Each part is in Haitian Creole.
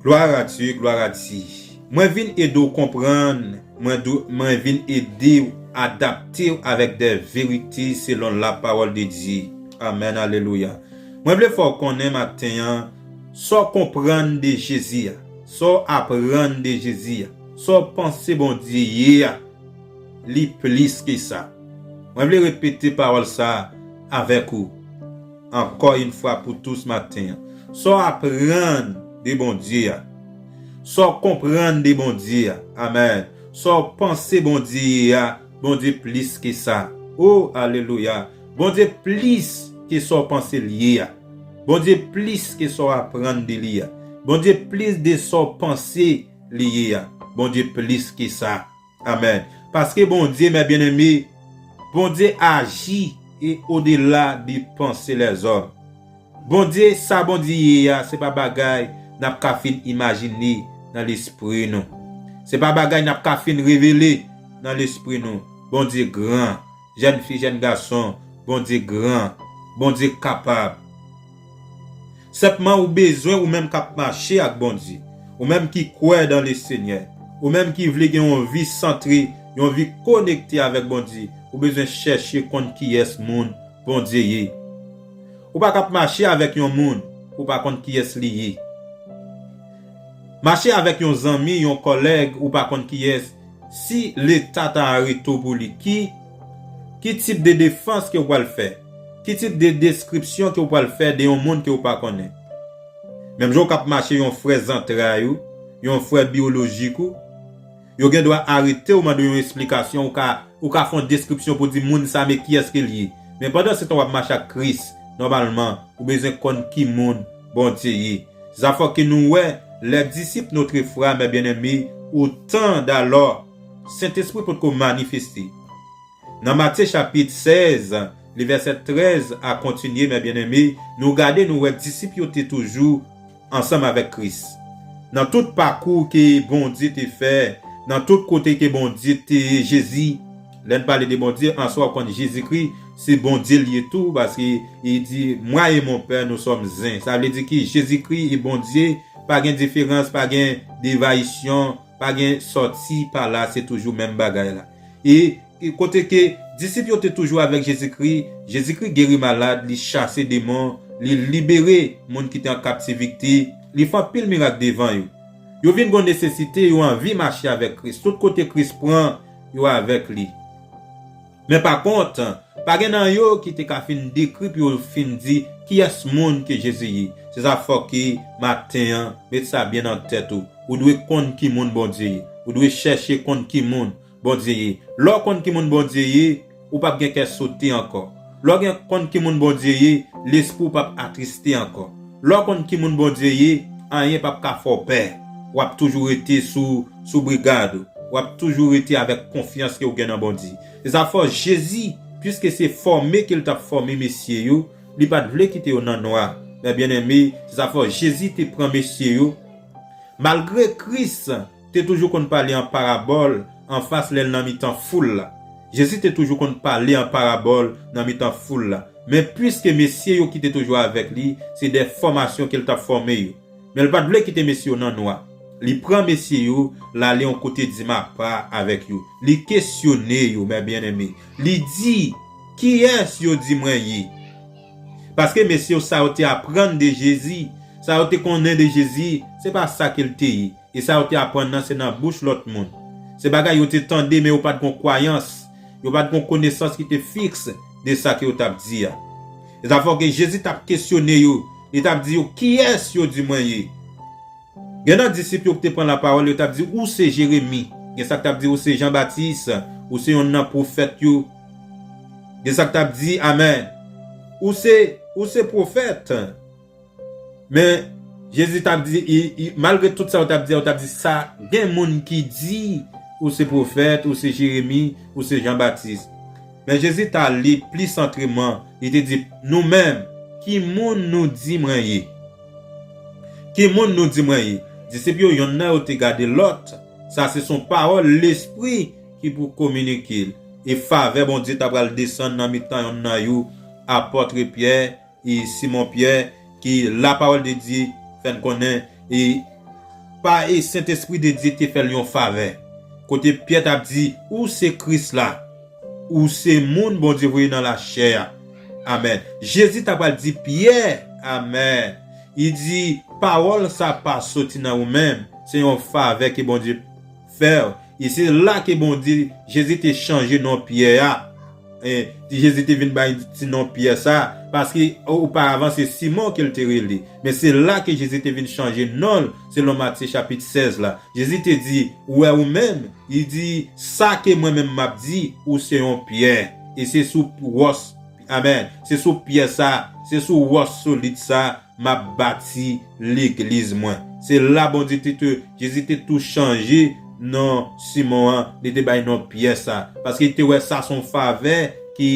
Gloire à Dieu gloire à Di mwen vin ede w konprann mwen do mwen vin ede w adapte w avèk dè verite selon la parole de Dieu amen alelouya mwen vle fè w konnen maten an sa w konprann de Jezi a sa w aprann de Jezi a sa w panse Bondye ye a li plis ke sa mwen vle repete parole sa avèk ou. ankò yn fwa pou tous maten an. Sa w aprann de Bondye a. Sa w konprann de Bondye a. Amen. Sa w panse Bondye ye a, Bondye plis ke sa. Oh! Alelouya! Bondye plis ke sa w panse l ye a. Bondye plis ke sa w aprann de li a. Bondye plis de sa w panse li ye a. Bondye plis ke sa. Amen paske Bondye mè byen eme Bondye aji e odela de panse lèzòm Bondye sa Bondye ye a se pa bagay nap ka fin imajine nan lespri nou se pa bagay nap ka fin revele nan lespri nou Bondye gran Jèn fi jèn gason Bondye gran Bondye kapab Senpman ou bezwen ou menm kap mache ak Bondye ou menm ki kwè dan le Senyè ou menm ki vle gen yon vi santre yon vi konekte avèk Bondye ou bezwen chèche konn kiyès moun Bondye ye ou pa kap mache avèk yon moun ou pa konn kiyès li ye mache avèk yon zanmi yon kòlèg ou pa konn kiyès Si leta ta areto pou li ki ki tip de defans ke ou pral fè? Ki tip de deskripsyon ke ou pral fè de yon moun ke ou pa konnen? Menm jan ou kap mache yon frè zantray ou, yon frè biolojik ou, yo gen dwa arete ou mande yon esplikasyon ou ka ou ka fon deskripsyon pou di moun sa men kiyès ke li ye? Men pandan se tan wap mache ak Kris, nòmalman ou bezwen konn ki moun Bondye ye. Zafò ke nou wè lè disip notre frame bien-aime au tan dalò Sentespri potko manifeste. Nan Matye chapit 16 li vèsè 13 a kontinye mè bien-aime nou gade nou wè disip yo te toujou ansanm avèk Kris. Nan tout pakou ke Bondye te fè, nan tout kote ke Bondye te Jezi, Lè n pale de Bondye, an swa ou konn Jezikri se Bondye l ye tou paske li di Moi et mon Père nous sommes un. Sa vle di ki Jezikri e Bondye pa gen diferans, pa gen devayisyon, pa gen sòti pa la, se toujou menm bagay la. E kote ke disip yo te toujou avèk Jezikri, Jezikri geri malad, li chase demon, li libere moun ki te an kaptivite, li fè anpil mirak devan yo. Yo vin gon nesesite, yo anvi mache avèk Kris. Tout kote Kris pran, yo avèk li. Men pa kont, pa gen nan yo ki te ka fin dekri pou yo fin di kiyès moun ke Jezi ye. Se sa fòke maten an, met sa byen nan tèt ou, ou dwe konn ki moun Bondye ye. Ou dwe chèche konn ki moun Bondye ye. Lè w konn ki moun Bondye ye, Ou pap gen kè sote ankò. Lè w gen konn ki moun Bondye ye, lespri w pap atriste ankò. Lè w konn ki moun Bondye ye, anyen pap ka fè w pè. W ap toujou rete sou sou brigad ou. W ap toujou rete avèk konfyans ke w gen nan Bondye. Se sa fè Jezi, piske se fòme ke l t ap fòme mesye yo, li pa t vle kite yo nan nwa. Men byeneme, se sa fè Jezi te pran mesye yo, malgre Kris, Te toujou konn pale an parabòl anfas lè l nan mitan foul la. Jezi te toujou konn pale an parabòl nan mitan foul la, men piske mesye yo ki te toujou avèk li se de fòmasyon ke l t ap fòme yo, men l pa t vle kite mesye yo nan nwa, li pran mesye yo, l ale yon kote dima pa avèk yo, li kesyone yo, Mè Byeneme, li di, Kiyès yo di mwen ye? Paske mesye yo sa yo te aprann de Jezi, sa yo te konnen de Jezi, se pa sa ke l te ye. e sa yo te aprann nan se nan bouch lòt moun. Se bagay yo te tande men yo pa t gen yon kwayans, yo pa t gen yon konesans ki te fiks de sa ke yo t ap di a. E sa fò ke Jezi t ap kesyone yo, li t ap di yo, Kiyès yo di mwen ye? Gen nan disip yo ki te pran lapawòl, yo t ap di, Ou se Jeremi. Gen sa ki t ap di, Ou se Jan Batis. Ou se yonn nan pwofèt yo. Gen sa ki t ap di, Amen! Ou se, ou se pwofèt. Men, Jezi t ap di, malgre tout sa yo t ap di a, yo t ap di, Sa gen moun ki di ou se pwofèt, ou se Jeremi, ou se Jan Batis. Men, Jezi t ale pli santreman, li te di, Nou menm, ki moun nou di mwen ye? Ki moun nou di mwen ye? Disip yo, yonn nan yo te gade lòt, sa se son pawòl Lespri ki pou kominike l. E favè Bondye t apral desann nan mitan yonn nan yo, Apòtre Pyè, e Simon Pyè ke la pawòl de Dye fè n konnen e pa e Sentespri de Dye te fè l yon favè kote Pyè t ap di, Ou se Kris la, ou se moun Bondye voye nan lachè a. Amèn. Jezi ta pral di Pyè, Amèn, li di, pawòl sa pa soti nan ou menm, se yon favè ke Bondye. Fer, e se la ke Bondye, Jezi te chanje non Pyè a. E, Jezi te vin bay ti non Pyè sa, paske oparavan se Simon ke l te rele. Men se la ke Jezi te vin chanje non l, selon Matye chapit 16 la. Jezi te di, Ou wè ou menm, li di, sa ke mwen menm m ap di, ou se yon Pyè, e se sou wòs, Amen! Se sou pyè sa, se sou wòch solid sa, m'ap bati legliz mwen. Se la Bondye te tou, Jezi te tou chanje non Simon an, li te bay non Pyè sa. Paske li te wè sa son favè ki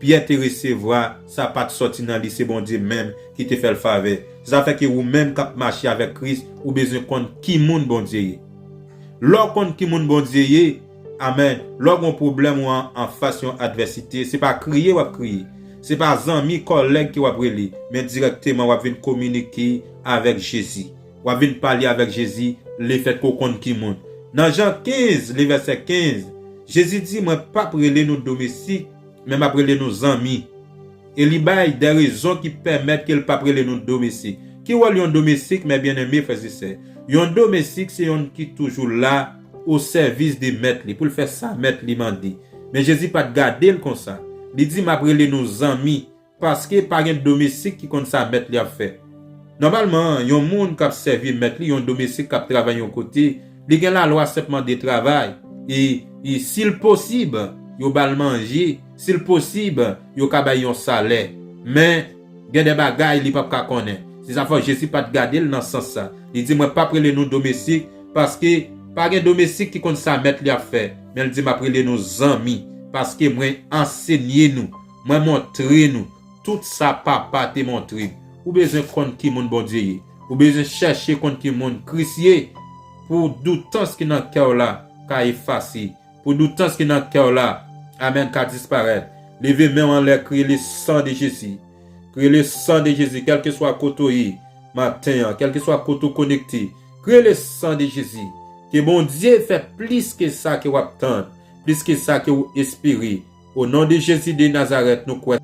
Pyè te resevwa, sa pat sòti nan li, se Bondye menm ki te fè'l favè. Se sa fè ke ou menm k'ap mache avèk Kris, ou bezwen konn ki moun Bondye ye. Lè w konn ki moun Bondye ye, Amen lè w gon pwoblèm ou an anfas yon advèsite se pa kriye wap kriye se pa zanmi kòlèg ke wap rele men dirèkteman wap vin kominike avèk Jezi wap vin pale avèk Jezi lefèt ke w konn ki moun nan Jan 15 le vèsè 15 Jezi di mwen pap rele nou domestik men map rele nou zanmi e li bay de rezon ki pèmèt ke l pap rele nou domestik ki wòl yon domestik mè byeneme frèzesè yon domestik se yonn ki toujou la o sèvis de mèt li, pou l fè sa mèt li mande. Men Jezi pa t gade l konsa. Li di, M ap rele nou zanmi, paske pa gen domestik ki konn sa mèt li ap fè. Nòmalman, yon moun k ap sèvi mèt li, yon domestik k ap travay yon kote, li gen lalwa senpman de travay, e, si l posib, yo ba l manje, si l posib, yo ka bay yon salè. Men. Gen de bagay li pap ka konnen. Se sa fè Jezi pat gade l nan sans sa. Li di, Mwen pap rele nou domestik, paske, pa gen domestik ki konn sa mèt li ap fè. Men l di, Map rele nou zanmi, paske mwen ansenye nou, mwen montre nou tout sa Papa te montre m. Ou bezwen konn ki moun Bondye ye. Ou bezwen chèche konn ki moun Kris ye pou doutans ki nan kè w la ka efase. Pou doutans ki nan kèw la Amen ka disparèt leve menw anlè kriye le san de Jezi kriye le san de Jezi kèlkeswa kote ou ye maten an kèlkeswa kote ou konekte kriye le san de Jezi ke Bondye fè plis ke sa ke wap tand plis ke sa ke ou espere o non de Jezi de Nazarèt nou kwè